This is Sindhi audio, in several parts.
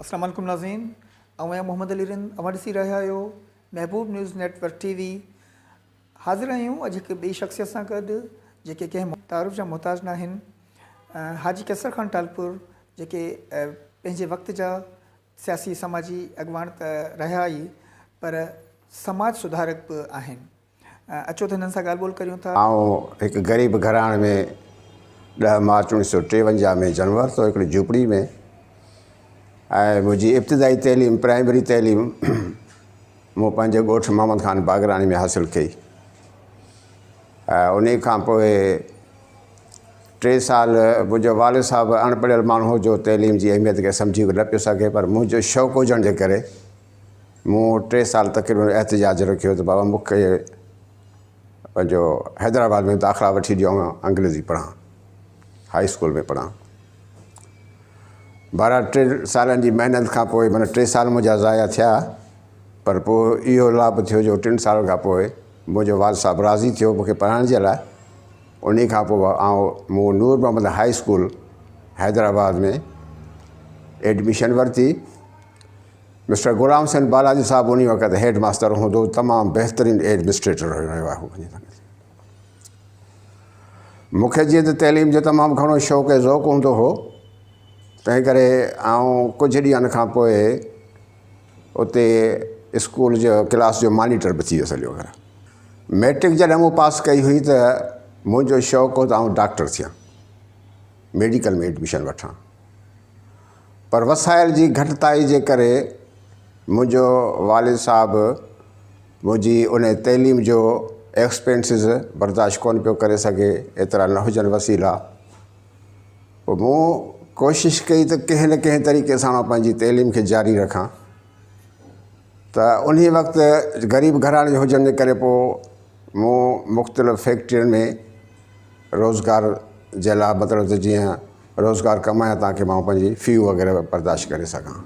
اسلام عليڪم ناظرين آئون آهيان محمد علي رند اوهان ڏسي رهيا آهيو Mehboob news network T V حاضر آهيون اڄ هڪ ٻي شخصيت سان گڏ جيڪي ڪنهن تعارف جا محتاج نه آهن حاجي قيصر خان ٽالپور جيڪي پنهنجي وقت جا سياسي سماجي اڳواڻ ته رهيا ئي پر سماج سڌارڪ به آهن اچو ته هنن سان ڳالهه ٻولهه ڪريون ٿا. آئون هڪ غريب گهراڻي ۾ ڏهه مارچ اوڻيھ سئو ٽيونجاھ ۾ جنم ورتو هڪڙي جهوپڙي ۾ ۽ منهنجي ابتدائي تعليم پرائمري تعليم مون پنهنجي ڳوٺ محمد خان باگراڻي ۾ حاصل ڪئي ۽ انهي کان پوء ٽي سال منهنجو والد صاحب اڻ پڙهيل ماڻهو هو جو تعليم جي اهميت کي سمجهي نه پيو سگهي پر منهنجو شوق هجڻ جي ڪري مون ٽي سال تقريبن احتجاج رکيو ته بابا مون کي پنهنجو حيدرآباد ۾ داخلا وٺي ڏيو آئون انگريزي پڙهان هائي اسڪول ۾ پڙهان. بهرحال ٽن سالن جي محنت کان پوء معنيٰ ٽي سال منهنجا ضايع ٿيا پر پوء اهو لاڀ ٿيو جو ٽن سالن کان پوء منهنجو والد صاحب راضي ٿيو مون کي پڙهائڻ جي لاء انهي کان پوء آئون مون Noor Muhammad high school Hyderabad ۾ admission ورتي مسٽر غلام حسين بالاجي صاحب انهي وقت هيڊ ماستر هوندو تمام بهترين ايڊمنسٽريٽر هيو مون کي جيئن ته تعليم جو تمام گهڻو شوق ۽ ذوق هوندو هو تنهن ڪري آئون ڪجهه ڏينهن کان پوء اتي اسڪول جو ڪلاس جو مانيٽر به ٿي ويس هليو گهر ميٽرڪ جڏهن مون پاس ڪئي هئي ته منهنجو شوق هو ته آئون ڊاڪٽر ٿيان ميڊيڪل ۾ ايڊميشن وٺان پر وسائل جي گهٽتائي جي ڪري منهنجو والد صاحب منهنجي ان تعليم جو ايڪسپينسز برداشت ڪونه پيو ڪري سگهي ايترا نه هجن وسيلا پوء مون ڪوشش ڪئي ته ڪنهن نه ڪنهن طريقي سان پنهنجي تعليم کي جاري رکان ته ان وقت غريب گهراڻي جو هجڻ جي ڪري پوء مون مختلف فيڪٽرين ۾ روزگار جي لاء مطلب ته جيئن روزگار ڪمايان تان کي مان پنهنجي في وغيره برداشت ڪري سگهان.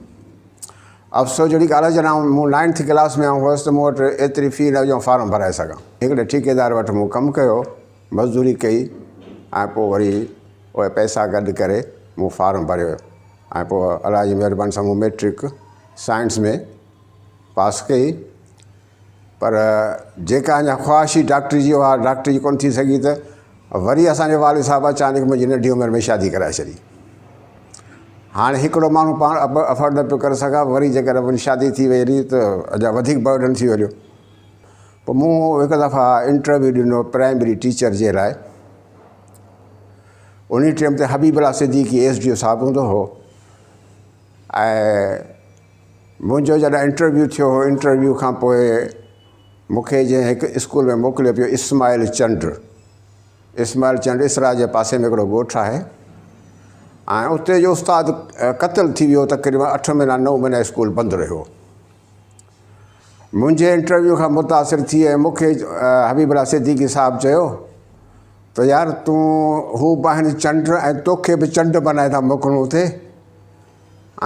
افسوس جهڙي ڳالهه آهي جڏهن مون نائنٿ ڪلاس ۾ آئون هوس ته مون وٽ ايتري في نه هئي جو فارم ڀرائي سگهان. هڪڙي ٺيڪيدار وٽ مون ڪم ڪيو، مزدوري ڪئي ۽ پوء وري اهي پئسا گڏ ڪري مون فارم ڀريو ۽ پوء الله جي مهرباني سان مون مئٽرڪ سائنس ۾ پاس ڪئي پر جيڪا اڃا خواهش هئي ڊاڪٽري جي، اها ڊاڪٽري جي ڪونه ٿي سگهي ته وري اسان جي والد صاحب اچانڪ منهنجي ننڍي عمر ۾ شادي ڪرائي ڇڏي. هاڻي هڪڙو ماڻهو پاڻ افورڊ نه پيو ڪري سگهان، وري جيڪڏهن منهنجي شادي ٿي وئي رهي ته اڃا وڌيڪ برڊن ٿي وڃيو. پوء مون هڪ دفعا انٽرويو ڏنو پرائمري ٽيچر جي لاء. انهي ٽيم تي Habib Ullah Siddiqui S D O sahib هوندو هو ۽ منهنجو جڏهن انٽرويو ٿيو هو، انٽرويو کان پوء مون کي جنهن هڪ اسڪول ۾ موڪليو پيو اسماعيل چنڊ، اسماعيل چنڊ اسرا جي پاسي ۾ هڪڙو ڳوٺ آهي ۽ اتي جو استاد قتل ٿي ويو تقريبن اٺ مهينا نو مهينا اسڪول بند رهيو. منهنجي انٽرويو کان متاثر ٿي ۽ مون کي حبيب الله صديقي صاحب چيو ته يار تون هو به آهن چنڊ ۽ توکي به چنڊ بنائي ٿا موڪلون اتي.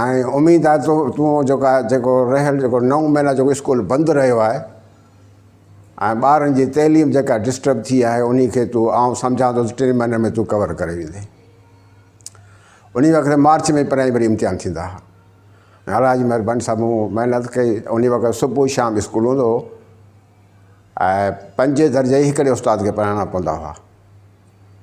۽ اميد آهي ته تون جيڪا جيڪو رهيل جيڪو نو مهينا جيڪو اسڪول بند رهيو آهي ۽ ٻارن جي تعليم جيڪا ڊسٽرب ٿي آهي انهي کي تون آئون سمجهان ٿو ته ٽن مهينن ۾ تون ڪور ڪري ويندين انهي وقت مارچ ۾ پرائمري امتحان ٿيندا هئا الحاج مهرباني صاحب مون محنت ڪئي انهي وقت صبح شام اسڪول هوندو هو ۽ پنجين درجي هڪڙي استاد کي پڙهائڻا پوندا هئا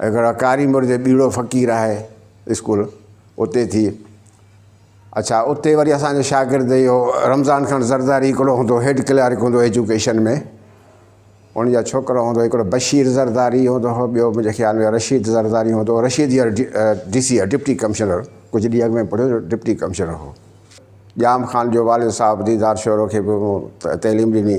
هڪڙا ڪاري مرد ٻيڙو فقير آهي اسڪول اتي ٿي اڇا اتي وري اسانجو شاگرد اهو رمضان خان زرداري هڪڙو هوندو هيڊ ڪلارڪ هوندو ايجوڪيشن ۾ ان جا ڇوڪرا هوندو هڪڙو بشير زرداري هوندو هو ٻيو منهنجي خيال ۾ رشيد زرداري هوندو هو رشيد يار ڊي سي ڊپٽي ڪمشنر ڪجهه ڏينهن اڳ ۾ پڙهيو جو ڊپٽي ڪمشنر هو ڄام خان جو والد صاحب ديدار شورو کي به تعليم ڏني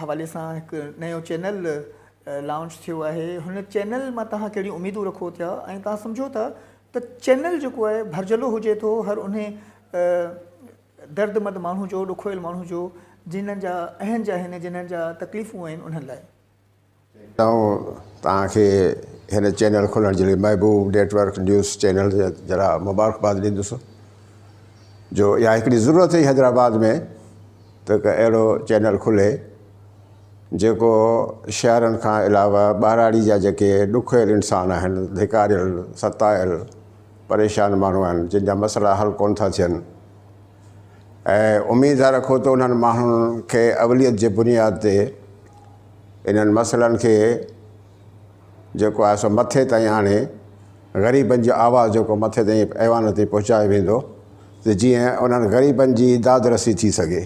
حوالي سان هڪ نيو چينل لانچ ٿيو آهي هن چينل مان توهان ڪهڙيون اميدون رکو ٿيا ۽ توهان سمجهو ٿا ته چينل جيڪو آهي ڀرجهلو هجي ٿو هر انهي دردمند ماڻهو جو ڏکويل ماڻهو جو جنهن جا اهنج آهن جنهن جا تڪليفون آهن انهن لاء ٽئون توهان کي هن چينل کولڻ جي لئي Mehboob network news channel جي ذرا مبارڪباد ڏيندس جو اها هڪڙي ضرورت هئي حيدرآباد ۾ ته هڪ اهڙو چينل کلي جيڪو شهرن کان علاوه ٻهراڙي جا جيڪي ڏکويل انسان آهن ڌڪاريل ستايل پريشان ماڻهو آهن جن جا مسئلا حل ڪونه ٿا ٿين ۽ اميد ٿا رکون ته انهن ماڻهن کي اوليت جي بنياد تي انهن مسئلن کي جيڪو آهي سو مٿي تائين آڻي غريبن جو آواز جيڪو مٿي تائين ايوان تائين پهچايو ويندو ته جيئن انهن غريبن جي داد رسي ٿي سگهي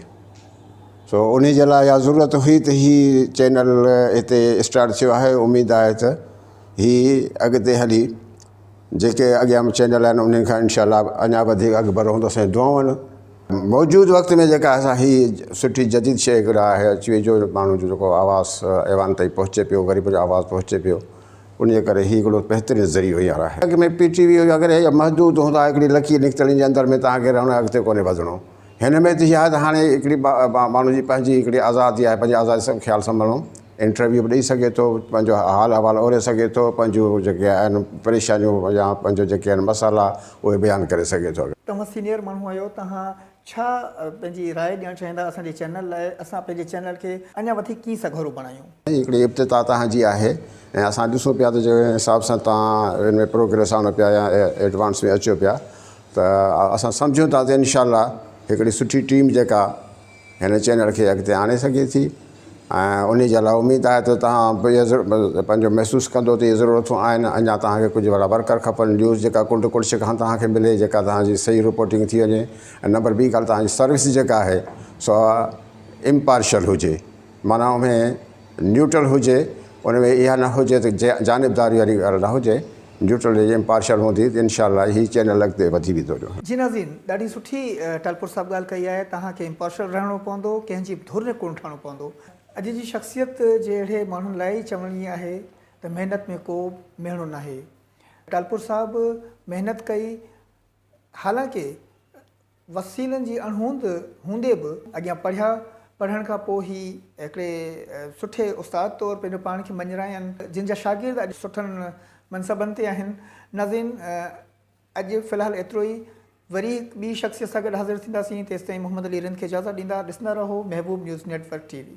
سو ان جي لاء اها ضرورت هئي ته هي چينل هتي اسٽارٽ ٿيو آهي اميد آهي ته هي اڳتي هلي جيڪي اڳيان به چينل آهن انهن کان انشاء الله اڃا وڌيڪ اڳڀرو هوندس ۽ دعائون آهن موجود وقت ۾ جيڪا اسان هي سٺي جديد شيء هڪڙي آهي اچي وئي جو ماڻهو جو جيڪو آواز ايوان تائين پهچي پيو غريب جو آواز پهچي پيو انهي ڪري هي هڪڙو بهترين ذريعو هينئر آهي اڳ ۾ پي ٽي وي هيو اگر هي محدود هوندا هڪڙي لڪير نڪتل ان جي اندر ۾ توهان کي رهڻو آهي اڳتي ڪونهي وڌڻو هن ۾ ته هي آهي ته هاڻي هڪڙي ماڻهو جي پنهنجي هڪڙي آزادي آهي پنهنجي آزادي سان خيال سان مڙڻو انٽرويو به ڏئي سگهي ٿو پنهنجو حال احوال اوري سگهي ٿو پنهنجو جيڪي آهن پريشانيون يا پنهنجو جيڪي آهن مسئلا اهي بيان ڪري سگهي ٿو. توهان سينئر ماڻهو آهيو توهان ڇا پنهنجي راء ڏيڻ چاهيندا اسان جي چينل لاء اسان پنهنجي چينل کي اڃا وڌيڪ ڪيئن سگهرو بڻايون. هي هڪڙي ابتدا توهان جي آهي ۽ اسان ڏسون پيا ته جنهن حساب سان توهان ان ۾ پروگريس آڻو پيا يا ايڊوانس ۾ اچو پيا ته اسان سمجهون ٿا ته انشاء الله هڪڙي سٺي ٽيم جيڪا هن چينل کي اڳتي آڻي سگهي ٿي ۽ انهي جي لاء اميد آهي ته توهان پنهنجو محسوس ڪندو ته اهي ضرورتون آهن اڃا توهان کي ڪجهه وڏا ورڪر کپن نيوز جيڪا ڪنڊ ڪڙڇ کان توهان کي ملي جيڪا توهان جي صحيح رپورٽنگ ٿي وڃي ۽ نمبر ٻي ڳالهه توهان جي سروس جيڪا آهي سا امپارشل هجي معنيٰ اوهين نيوٽرل هجي ان ۾ اها نه هجي ته جانبداري واري ڳالهه نه هجي نيوٽرل هجي امپارشل هوندي ته انشاء الله هي چينل اڳتي وڌي ويندو. جي ناظرين ڏاڍي سٺي ٽالپور صاحب ڳالهه ڪئي آهي توهان کي امپارشل رهڻو پوندو ڪنهن جي به ڌر ۾ ڪونه ٺهڻو پوندو. اڄ جي شخصيت جي اهڙي ماڻهن لاء ئي چوڻي آهي ته محنت ۾ ڪو ميڻو ناهي ٽالپور صاحب محنت ڪئي حالانڪه وسيلن جي اڻهوند هوندي به اڳيان پڙهيا، پڙهڻ کان پوء هي هڪڙي سٺي استاد طور پنهنجو پاڻ کي مڃراين، جن جا شاگرد اڄ سٺن منصبن تي آهن. ناظرين اڄ في الحال ايترو ئي، وري هڪ ٻي شخصيت سان گڏ حاضر ٿينداسين، تيستائين محمد علي رند کي اجازت ڏيندا، ڏسندا رهو Mehboob news network T V.